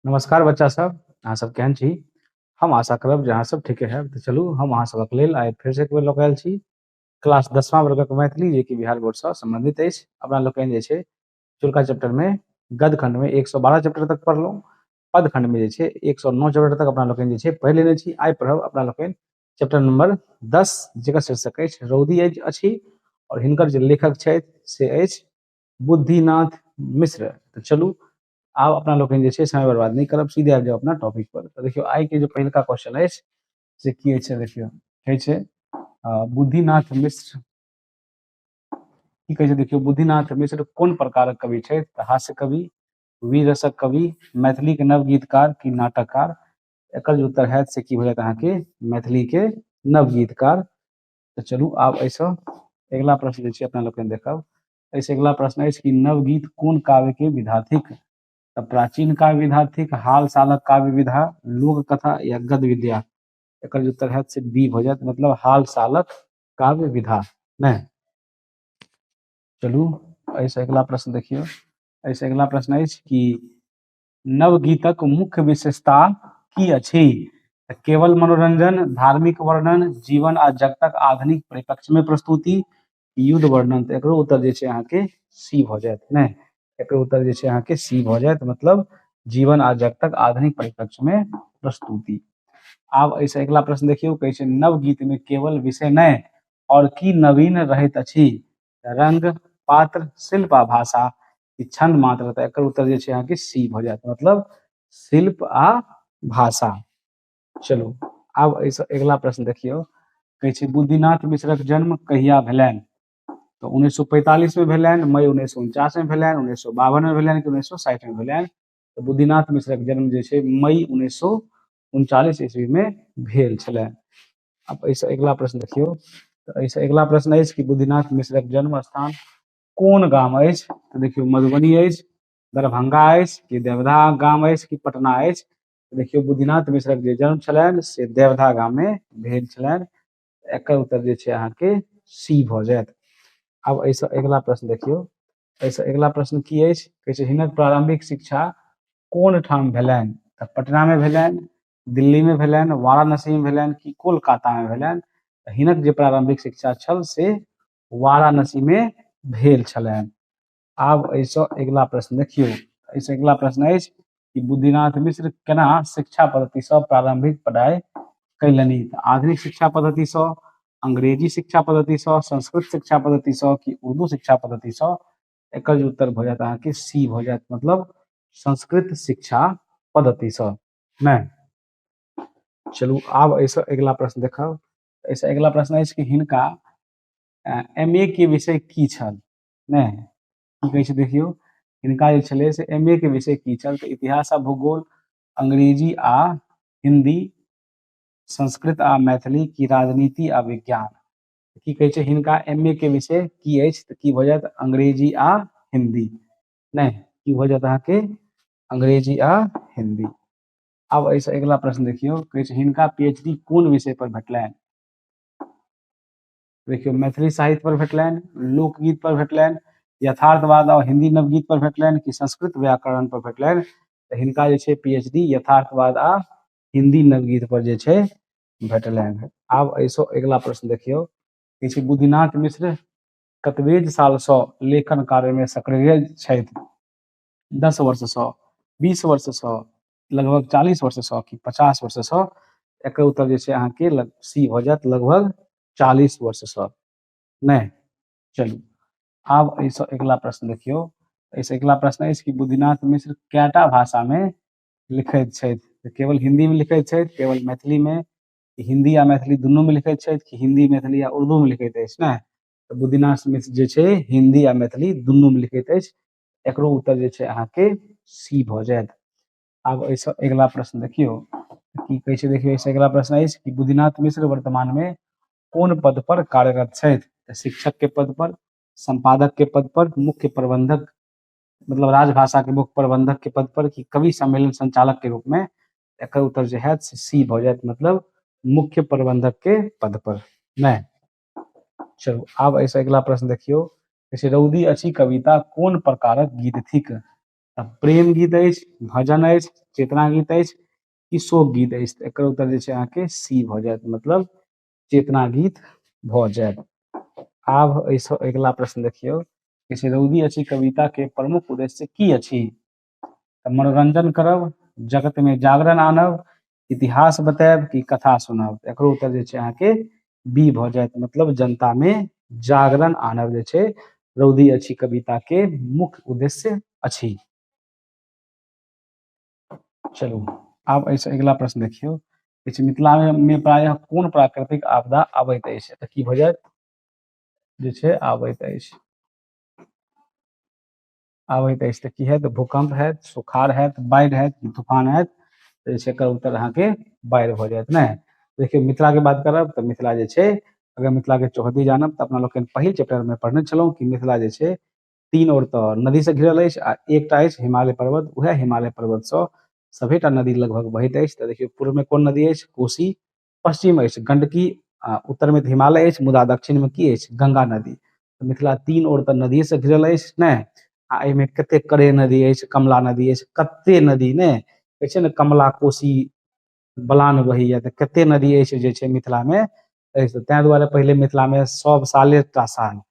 नमस्कार बच्चा सब अहाँ सब केहन छी हम आशा करब जे अहाँ सब ठीके हैब तऽ चलू हम अहाँ सबक लेल आइ फेर से एक बेर लऽ कऽ आयल छी क्लास दसमा वर्गक मैथिली जे कि बिहार बोर्ड सँ सम्बन्धित अछि अपना लोकनि जे छै चुल्का चैप्टर मे गद्य खंड मे एक सौ बारह चैप्टर तक पढ़लहुँ पद खंड मे जे छै एक सौ नौ चैप्टर तक अपना लोकनि जे छै पढ़ि लेने छी आइ पढ़ब अपना लोकनि चैप्टर नंबर दस जेकर शीर्षक अछि रौदी अछि अछि आओर हिनकर जे लेखक छथि से अछि बुद्धिनाथ मिश्र तऽ चलू आब अपना लोकनि जे छै समय बर्बाद नहि करब सीधे आबि जाउ अपना टॉपिक पर तऽ देखियौ आइ के जे पहिलका क्वेश्चन अछि से की अछि देखियौ कहै छै बुद्धिनाथ मिश्र की कहै छै देखियौ बुद्धिनाथ मिश्र कोन प्रकारक कवि छथि तऽ हास्य कवि वीर रसक कवि मैथिली के नवगीतकार की नाटककार एकर जे उत्तर होयत से की भऽ जायत अहाँके मैथिली के नवगीतकार तऽ चलू आब एहिसँ अगिला प्रश्न जे छै अपना लोकनि देखब एहिसँ अगिला प्रश्न अछि कि नवगीत कोन काव्यके विधा थिक तऽ प्राचीन काव्य विधा थिक हाल सालक काव्य विधा लोक कथा या गद विद्या एकर जे उत्तर हैत से बी भऽ जायत मतलब हाल सालक काव्य विधा नहि चलू एहिसँ अगिला प्रश्न देखियौ एहिसँ अगिला प्रश्न अछि कि नवगीतक मुख्य विशेषता की अछि तऽ केवल मनोरंजन धार्मिक वर्णन जीवन आ जगतक आधुनिक परिप्रेक्ष्य में प्रस्तुति युद्ध वर्णन तऽ एकरो उत्तर जे छै अहाँके सी भऽ जायत ने एकरो उत्तर जे छै अहाँके सी भऽ जायत मतलब जीवन आ जगतक आधुनिक परिप्रेक्ष्य में प्रस्तुति आब एहिसँ अगिला प्रश्न देखियौ कहै छै नवगीत में केवल विषय नहि और की नवीन रहैत अछि रंग पात्र शिल्प आ भाषा ई छंद मात्र रहता एकर उत्तर जे छै अहाँके सी भऽ जायत मतलब शिल्प आ भाषा चलू आब एहिसँ अगिला प्रश्न देखियौ कहै छै बुद्धिनाथ मिश्रक जन्म कहिया भेलनि तऽ उन्नैस सए पैंतालीसमे भेलनि मई उन्नैस सए उनचासमे भेलनि उन्नैस सए बावनमे भेलनि कि उन्नैस सए साठिमे भेलनि तऽ बुद्धिनाथ मिश्रक जन्म जे छै मई उन्नैस सए उनचालीस ईस्वीमे भेल छलै आब एहिसँ अगिला प्रश्न देखियौ तऽ एहिसँ अगिला प्रश्न अछि कि बुद्धिनाथ मिश्रक जन्म स्थान कोन गाम अछि तऽ देखियौ मधुबनी अछि दरभंगा अछि कि देवधा गाम अछि कि पटना अछि देखियौ बुद्धिनाथ मिश्रक जे जन्म छलनि से देवधा गाममे भेल छलनि एकर उत्तर जे छै अहाँके सी भऽ जायत आब एहिसँ अगिला प्रश्न देखियौ एहिसँ अगिला प्रश्न की अछि कहै छै हिनक प्रारंभिक शिक्षा कोन ठाम भेलनि तऽ पटनामे भेलनि दिल्लीमे भेलनि वाराणसीमे भेलनि कि कोलकातामे भेलनि हिनक जे प्रारंभिक शिक्षा छल से वाराणसी मे भेल छलनि आब एहिसँ अगिला प्रश्न देखियौ एहिसँ अगिला प्रश्न अछि कि बुद्धिनाथ मिश्र केना शिक्षा पद्धतिसँ प्रारंभिक पढ़ाइ कयलनि तऽ आधुनिक शिक्षा पद्धतिसँ अंग्रेजी शिक्षा पद्धतिसँ संस्कृत शिक्षा पद्धतिसँ कि उर्दू शिक्षा पद्धतिसँ एकर जे उत्तर भऽ जायत अहाँके सी भऽ जायत मतलब संस्कृत शिक्षा पद्धतिसँ नहि चलू आब एहिसँ अगिला प्रश्न देखब एहिसँ अगिला प्रश्न अछि कि हिनका एम ए के विषय की छल नहि की कहै छै देखियौ हिनका जे छलै से एम ए के विषय की छल तऽ इतिहास आ भूगोल अंग्रेजी आ हिंदी संस्कृत आ मैथिली की राजनीति आ विज्ञान की कहै छै हिनका एम ए के विषय की अछि तऽ की भऽ जायत अंग्रेजी आ हिंदी नहि की भऽ जायत अहाँके अंग्रेजी आ हिंदी आब एहिसँ अगिला प्रश्न देखियौ कहै छै हिनका पीएचडी कोन विषय पर भेटलनि देखियौ मैथिली साहित्य पर भेटलनि लोकगीत पर भेटलनि यथार्थवाद और हिंदी नवगीत पर भेटलनि कि संस्कृत व्याकरण पर भेटलनि तऽ हिनका जे छै पीएचडी यथार्थवाद आ हिंदी नवगीत पर जे छै भेटलनि आब एहिसँ अगिला प्रश्न देखियौ कि छै बुद्धिनाथ मिश्र कतबेज सालसँ लेखन कार्यमे सक्रिय छथि दस वर्ष से बीस वर्ष से लगभग चालीस वर्ष से कि पचास वर्ष से एक उत्तर जे छै अहाँके लग सी भऽ जायत लगभग चालीस वर्ष से नहि चलू आब एहिसँ अगिला प्रश्न देखियौ एहिसँ अगिला प्रश्न अछि कि बुद्धिनाथ मिश्र कैटा भाषामे लिखैत छथि तऽ केवल हिन्दीमे लिखैत छथि केवल मैथिलीमे हिन्दी आ मैथिली दुनूमे लिखैत छथि कि हिन्दी मैथिली आ उर्दूमे लिखैत अछि ने तऽ बुद्धिनाथ मिश्र जे छै हिन्दी आ मैथिली दुनूमे लिखैत अछि एकरो उत्तर जे छै अहाँके सी भऽ जायत आब एहिसँ अगिला प्रश्न देखियौ की कहै छै देखियौ एहिसँ अगिला प्रश्न अछि कि बुद्धिनाथ मिश्र वर्तमानमे कोन पद पर कार्यरत छथि तऽ शिक्षक के पद पर संपादक के पद पर मुख्य प्रबंधक मतलब राजभाषा के मुख्य प्रबंधक के पद पर कि कवि सम्मेलन संचालक के रूप में एकर उत्तर जो है सी भऽ जायत मतलब मुख्य प्रबंधक के पद पर नहि चलू आब एहिसँ अगिला प्रश्न देखियौ कहै छै रौदी अछि कविता कोन प्रकारक गीत थिक तऽ प्रेम गीत अछि भजन अछि चेतना गीत अछि कि शोक गीत अछि तऽ एकर उत्तर जे छै अहाँके सी भऽ जायत मतलब चेतना गीत भऽ जायत आब एहिसँ अगिला प्रश्न देखियौ कहै छै रौदी अछि कविताके प्रमुख उद्देश्य की अछि तऽ मनोरंजन करब जगत में जागरण आनब इतिहास बतायब कि कथा सुनब एकरो उत्तर जे छै अहाँके बी भऽ जायत मतलब जनता में जागरण आनब जे छै रौदी अछि कविता के मुख्य उद्देश्य अछि चलू आब एहिसँ अगिला प्रश्न देखियौ किछु मिथिला में प्रायः कोन प्राकृतिक आपदा अबैत अछि तऽ की भऽ जायत जे छै आबैत अछि आबैत अछि तऽ की हैत भूकंप हैत सुखाड़ हैत बाढ़ि हैत कि तूफान हैत तऽ जे छै एकर उत्तर अहाँके बाढ़ि भऽ जायत नहि देखियौ मिथिलाके बात करब तऽ मिथिला जे छै अगर मिथिलाके चौहद्दी जानब तऽ अपना लोकनि पहिल चैप्टरमे पढ़ने छलहुँ कि मिथिला जे छै तीन ओर तऽ नदीसँ घिरल अछि आ एकटा अछि हिमालय पर्वत उएह हिमालय पर्वतसँ सभेटा नदी लगभग बहैत अछि तऽ देखियौ पूर्वमे कोन नदी अछि कोसी पश्चिम अछि गंडकी आ उत्तर में हिमालय अछि मुदा दक्षिण में की अछि गंगा नदी मिथिला तीन ओर तऽ नदी से घिरल अछि ने आ एहिमे कते करे नदी अछि कमला नदी अछि कते नदी ने कहै छै ने कमला कोसी बलान बहैया तऽ कते नदी अछि जे छै मिथिला में तैं दुआरे पहिले मिथिला में सब साले टा साल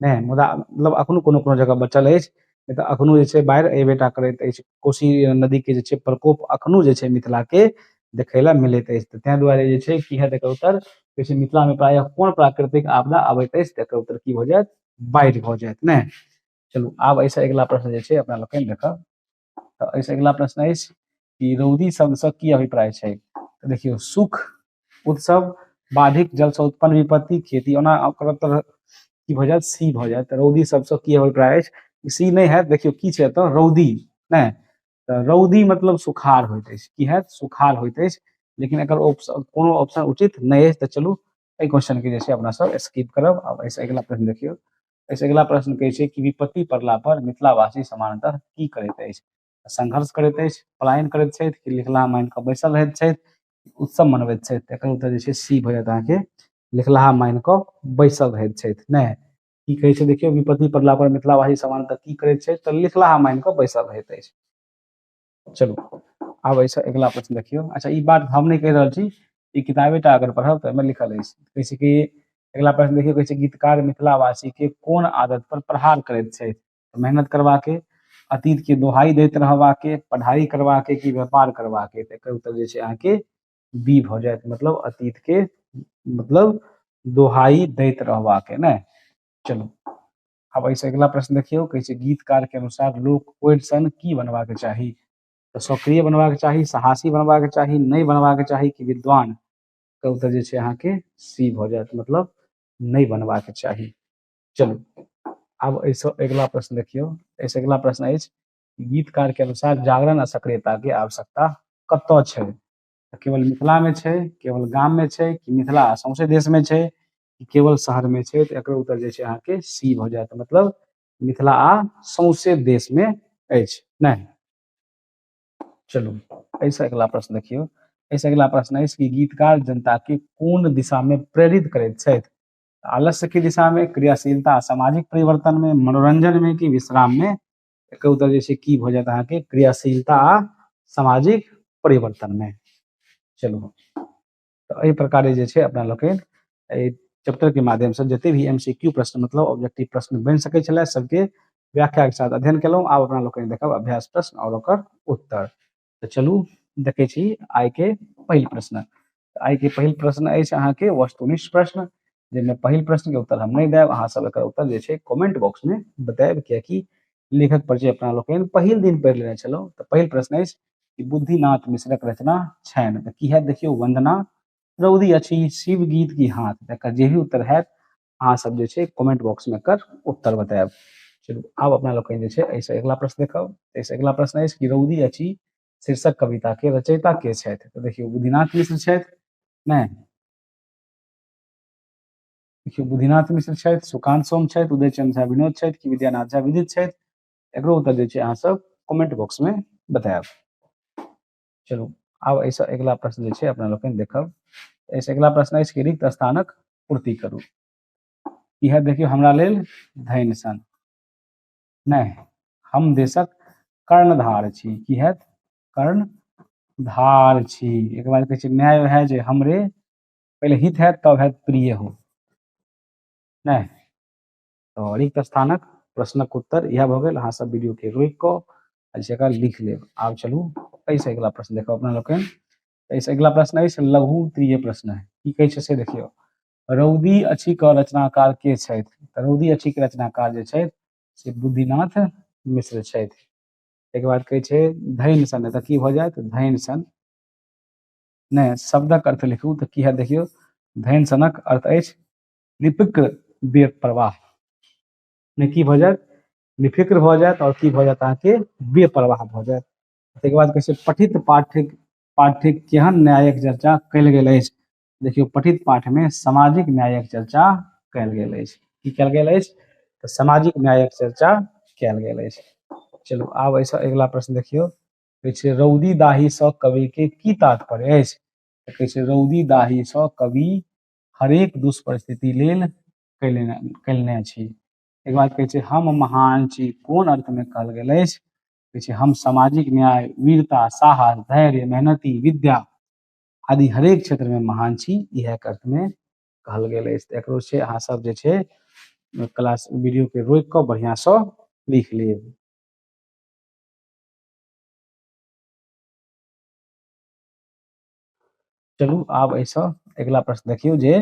नहि मुदा मतलब एखनो कोनो कोनो जगह बचल अछि नहि तऽ एखनो जे छै बाढ़ि अयबे टा करैत अछि कोशी नदीके जे छै प्रकोप एखनो जे छै मिथिलाके देखय लेल मिलैत अछि तऽ ताहि दुआरे जे छै की हएत एकर उत्तर कहै छै मिथिलामे प्रायः कोन प्राकृतिक आपदा अबैत अछि तऽ एकर उत्तर की भऽ जायत बाढ़ि भऽ जायत नहि चलू आब एहिसँ अगिला प्रश्न जे छै अपना लोकनि देखब तऽ एहिसँ अगिला प्रश्न अछि कि रौदी शब्दसँ की अभिप्राय छै तऽ देखियौ सुख उत्सव बाधिक जलसँ उत्पन्न विपत्ति खेती ओना ओकर उत्तर की भऽ जायत सी भऽ जायत तऽ रौदी शब्दसँ की अभिप्राय अछि सी नहि हैत देखियौ की छै एतऽ रौदी नहि तऽ रौदी मतलब सुखार होइत अछि की हैत सुखार होइत अछि लेकिन एकर ऑप्शन कोनो ऑप्शन उचित नहि अछि तऽ चलू एहि क्वेश्चन के जे छै अपना सब स्किप करब आब एहिसँ अगिला प्रश्न देखियौ एहिसँ अगिला प्रश्न कहै छै कि विपत्ति पड़ला पर मिथिलावासी सामान्यतः की करैत अछि संघर्ष करैत अछि पलायन करैत छथि कि लिखला मानि कऽ बैसल रहैत छथि उत्सव मनबैत छथि एकर उत्तर जे छै सी भऽ जायत अहाँके लिखलाहा मानि कऽ बैसल रहैत छथि नहि की कहै छै देखियौ विपत्ति पड़ला पर मिथिलावासी सामान्यतः की करैत छथि तऽ लिखलाहा मानि कऽ बैसल रहैत अछि चलू आब एहिसँ अगिला प्रश्न देखियौ अच्छा ई बात हम नहि कहि रहल छी ई किताबेटा अगर पढ़ब तऽ एहिमे लिखल अछि कहै छै कि अगिला प्रश्न देखियौ कहै छै गीतकार मिथिलावासीके कोन आदत पर प्रहार करैत छथि मेहनत करबाके अतीतके दोहाई दैत रहबाके पढ़ाई करबाके कि व्यापार करबाके तऽ एकर उत्तर जे छै अहाँके बी भऽ जायत मतलब अतीतके मतलब दोहाई दैत रहबाके ने चलू आब एहिसँ अगिला प्रश्न देखियौ कहै छै गीतकारके अनुसार लोक ओरिसन की बनबाक चाही तऽ सक्रिय बनबाक चाही साहसी बनबाक चाही नहि बनबाक चाही कि विद्वान तऽ उत्तर जे छै अहाँके सी भऽ जायत मतलब नहि बनबाक चाही चलू आब एहिसँ अगिला प्रश्न देखियौ एहिसँ अगिला प्रश्न अछि गीतकारके अनुसार जागरण आ सक्रियताके आवश्यकता कतय छै तऽ केवल मिथिलामे छै केवल गाममे छै कि मिथिला सौंसे देशमे छै कि केवल शहरमे छै तऽ एकर उत्तर जे छै अहाँके सी भऽ जायत मतलब मिथिला आ सौंसे देशमे अछि नहि चलू एहिसँ अगिला प्रश्न देखियौ एहिसँ अगिला प्रश्न अछि कि गीतकार जनताके कोन दिशामे प्रेरित करैत छथि आलस्यके दिशामे क्रियाशीलता सामाजिक परिवर्तनमे मनोरञ्जनमे कि विश्राममे एकर उत्तर जे छै की भऽ जायत अहाँके क्रियाशीलता आ सामाजिक परिवर्तनमे चलू तऽ एहि प्रकारे जे छै अपना लोकनि एहि चैप्टरके माध्यमसँ जतेक भी एम सी क्यू प्रश्न मतलब ऑब्जेक्टिव प्रश्न बनि सकै छलै सभके व्याख्याके साथ अध्ययन केलहुँ आब अपना लोकनि देखब अभ्यास प्रश्न आओर ओकर उत्तर तऽ चलू देखै छी आइ के पहिल प्रश्न आइ के पहिल प्रश्न अछि अहाँके वस्तुनिष्ठ प्रश्न जाहिमे पहिल प्रश्न के उत्तर हम नहि देब अहाँ सब एकर उत्तर जे छै कमेंट बॉक्स में बतायब कियाकि लेखक पर जे अपना लोकनि पहिल दिन पढ़ि लेने छलहुँ तऽ पहिल प्रश्न अछि कि बुद्धिनाथ मिश्रक रचना छनि तऽ की हैत देखियौ वंदना रौदी अछि शिव गीत की हाथ एकर जे भी उत्तर हैत अहाँ सब जे छै कमेंट बॉक्स में एकर उत्तर बतायब चलू आब अपना लोग जे छै ऐसे अगला प्रश्न देखब ऐसे अगला प्रश्न है कि रौदी अछि शीर्षक कविता के रचयिता के छथि तो देखियो बुधिनाथ मिश्र छथि नहि देखियो बुधिनाथ मिश्र छथि सुकांत सोम छथि उदय चंद्र झा विनोद छथि कि विद्यानाथ झा विदित छथि एकरो उत्तर जे छै अहाँ सब कमेंट बॉक्स में बतायब चलू आब एहिसँ अगिला प्रश्न जे छै अपना लोकनि देखब एहिसँ अगिला प्रश्न अछि कि रिक्त स्थानक पूर्ति करू इएह देखियौ हमरा लेल धैन सन नहि हम देशक कर्णधार छी की हैत कर्णधार छी एक बार कहै छै न्याय वएह जे हमरे पहिले हित हैत तब हैत प्रिय हो नहि तो रिक्त स्थानक प्रश्नक उत्तर यह भऽ गेल अहाँ सब वीडियो के रोकि कऽ ऐसे एकरा लिख लेब आब चलू ऐसे अगिला प्रश्न देखो अपना लोकनि ऐसे अगिला प्रश्न अछि लघु त्रिय प्रश्न है की कहै छै से देखियौ रौदी अछि क रचनाकार के छथि तऽ रौदी अछि के रचनाकार जे छथि से बुद्धिनाथ मिश्र छथि ताहिके बाद कहै छै धैन सन तऽ की भऽ जायत धैन सन नहि शब्दक अर्थ लिखू तऽ की हैत देखियौ धैन सनक अर्थ अछि निपिक्र बीर प्रवाह ने की भऽ जायत निफिक्र भऽ जायत आओर की भऽ जायत अहाँके बेप्रवाह भऽ जायत ताहिके बाद कहै छै पठित पाठिक पाठिक केहन न्यायक चर्चा कयल गेल अछि देखियौ पठित पाठमे सामाजिक न्यायक चर्चा कयल गेल अछि की कयल गेल अछि तऽ सामाजिक न्यायक चर्चा कयल गेल अछि चलू आब एहिसँ अगिला प्रश्न देखियौ कहै छै रौदी दाहीसँ कविके की तात्पर्य अछि तऽ कहै छै रौदी दाहीसँ कवि हरेक दुष्परिस्थिति लेल कयलनि कयलने छी एक बाद कहै छै हम महान छी कोन अर्थमे कहल गेल अछि कहै छै हम सामाजिक न्याय वीरता साहस धैर्य मेहनती विद्या आदि हरेक क्षेत्रमे महान छी इएह अर्थमे कहल गेल अछि तऽ एकरो छै अहाँ सब जे छै क्लास वीडियोके रोकि कऽ बढ़िआँसँ लिख लेब चलू आब एहिसँ अगिला प्रश्न देखियौ जे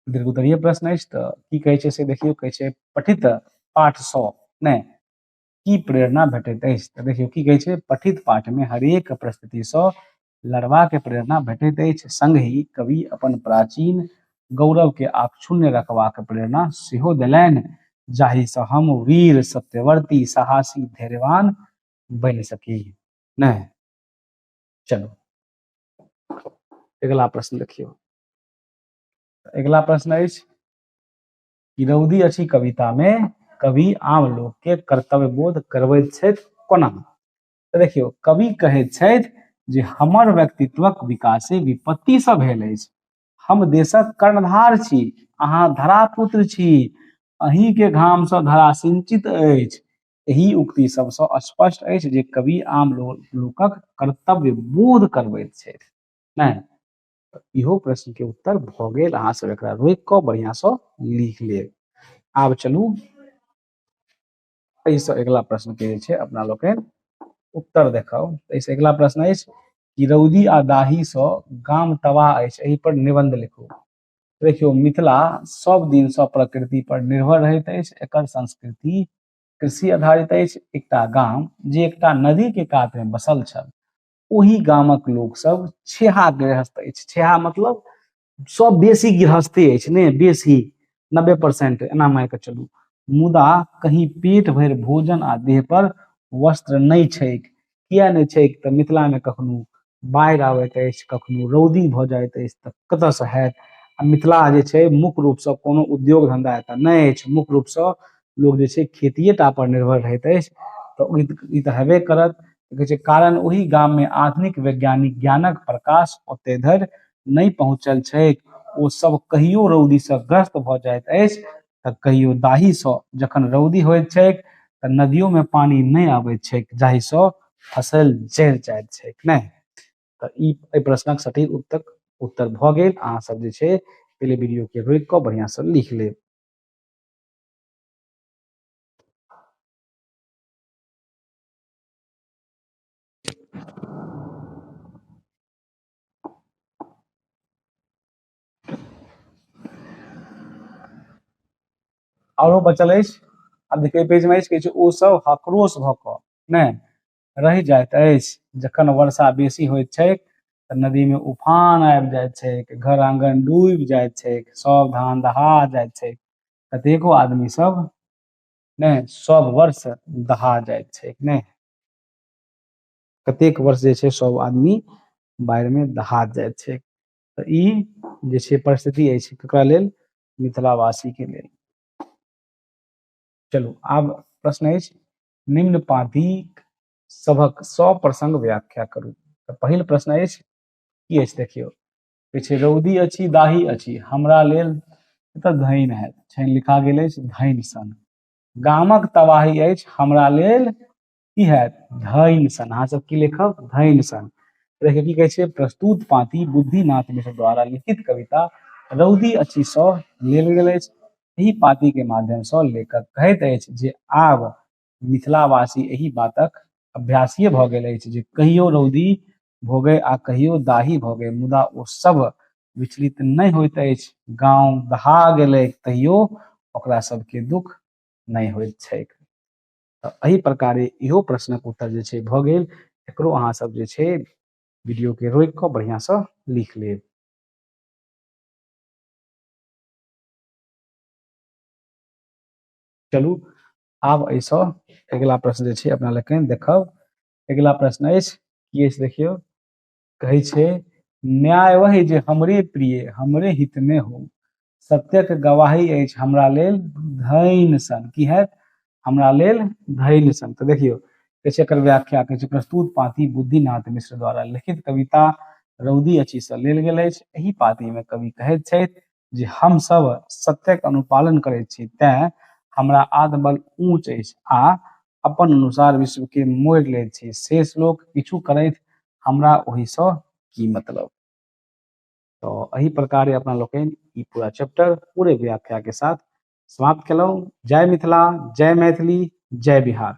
दीर्घोत्तरीय प्रश्न अछि तऽ की कहै छै से देखियौ कहै छै पठित पाठसँ नहि की प्रेरणा भेटैत अछि तऽ देखियौ की कहै छै पठित पाठमे हरेक परिस्थितिसँ लड़बाक प्रेरणा भेटैत अछि संगहि कवि अपन प्राचीन गौरवके आक्षुण्य रखबाक प्रेरणा सेहो देलनि जाहिसँ हम वीर सत्यवर्ती साहसी धैर्यवान बनि सकी नहि चलू अगिला प्रश्न देखियौ अगिला प्रश्न अछि कि रौदी अछि कविता मे कवि आम लोक के कर्तव्य बोध करबैत छथि कोना तऽ देखियौ कवि कहैत छथि जे हमर व्यक्तित्वक विकासे विपत्ति से भेल अछि हम देशक कर्णधार छी अहाँ धरापुत्र छी अहीं के घाम से धरा सिंचित अछि एहि उक्ति सबसँ स्पष्ट अछि जे कवि आम लोकक कर्तव्य बोध करबैत छथि नहि इहो प्रश्न के उत्तर भऽ गेल अहाँ सब एकरा रोकि कऽ बढ़िया सँ लिख लेब आब चलू एहिसँ अगिला प्रश्न के जे छै अपना लोकनि उत्तर देखाउ एहिसँ अगिला प्रश्न अछि कि रौदी आ दाही सँ गाम तबाह अछि एहि पर निबंध लिखू देखियौ मिथिला सब दिन सब प्रकृति पर निर्भर रहैत अछि एकर संस्कृति कृषि आधारित अछि एकटा गाम जे एकटा नदी के कात में बसल छल ओहि गामक लोक सब छेहा गृहस्थ अछि छेहा मतलब सब बेसी गृहस्थे अछि ने बेसी नब्बे परसेंट एना मानि कऽ चलू मुदा कहीं पेट भरि भोजन आ देह पर वस्त्र नहि छैक किया नहि छै तऽ मिथिला मे कखनो बाढ़ि आबैत अछि कखनो रौदी भऽ जाइत अछि तऽ कतऽ सँ होयत आ मिथिला जे छै मुख्य रूप सँ कोनो उद्योग धंधा एतऽ नहि अछि मुख्य रूप सँ लोग जे छै खेतिये टा पर निर्भर रहैत अछि तऽ ई तऽ हेबे करत कहै छै कारण ओहि गाम मे आधुनिक वैज्ञानिक ज्ञानक प्रकाश ओते धरि नहि पहुँचल छैक ओ सब कहियो रौदी सँ ग्रस्त भऽ जाइत अछि तऽ कहियो दाही सँ जखन रौदी होइत छैक तऽ नदियो में पानी नहि अबैत छैक जाहि सँ फसल जरि जाइत छैक नहि तऽ ई एहि प्रश्नक सटीक उत्तर उत्तर भऽ गेल अहाँ सब जे छै पहिले वीडियो के रोकि कऽ बढ़िया सँ लिख लेब आरो बचल अछि आब देखियौ पेज में अछि किछु ओ सब हकरोश भऽ कऽ नहि रहि जाइत अछि जखन वर्षा बेसी होइत छै तऽ नदी में उफान आबि जाइत छै घर आंगन डूबि जाइत छै सब धान दहा जाइत छै कतेको आदमी सब नहि सब वर्ष दहा जाइत छै नहि कतेक वर्ष जे छै सब आदमी बाढ़ि में दहा जाइत छै तऽ ई जे छै परिस्थिति अछि ककरा लेल मिथिलावासी के लेल चलू आब प्रश्न अछि निम्न पादी सभक सप्रसंग व्याख्या करू तऽ पहिल प्रश्न अछि की अछि देखियौ छै रौदी अछि दाही अछि हमरा लेल एतऽ धैन हैत छनि लिखा गेल अछि धैन सन गामक तबाही अछि हमरा लेल की हैत धैन सन अहाँ सब की लिखब धैन सन एकरा की कहै छै प्रस्तुत पाती बुद्धिनाथ मिश्र द्वारा लिखित कविता रौदी अछि सँ लेल गेल अछि एहि पाती के माध्यम सँ लेखक कहैत अछि जे आब मिथिलावासी एहि बातक अभ्यासीय भऽ गेल अछि जे कहियो रौदी भोगे आ कहियो दाही भोगे मुदा ओ सब विचलित नहि होइत अछि गाँव दहा गेलै तैयो ओकरा सबके दुख नहि होइत छैक तऽ एहि प्रकारे इहो प्रश्नक उत्तर जे छै भऽ गेल एकरो अहाँ सब जे छै वीडियो के रोकि कऽ बढ़िया से लिख लेब चलू आब एहिसँ अगिला प्रश्न जे छै अपना लोकनि देखब अगिला प्रश्न अछि की अछि देखियौ कहै छै न्याय वही जे हमरे प्रिय हमरे हित में हो सत्यक गवाही अछि हमरा लेल धैन सन की हैत हमरा लेल धैन सन तऽ देखियौ कहै छै एकर व्याख्या कहै छै प्रस्तुत पाती बुद्धिनाथ मिश्र द्वारा लिखित कविता रौदी अछि से लेल गेल अछि एहि पाती में कवि कहैत छथि जे हम सब सत्यक अनुपालन करैत छी तैं हमरा आत्मबल ऊंच अछि आ अपन अनुसार विश्व के मोड़ ले छी शेष लोक किछु करैत हमरा ओहि स की मतलब तो एहि प्रकार अपना लोकनि ई पूरा चैप्टर पूरे व्याख्या के साथ समाप्त केलहुँ जय मिथिला जय मैथिली जय बिहार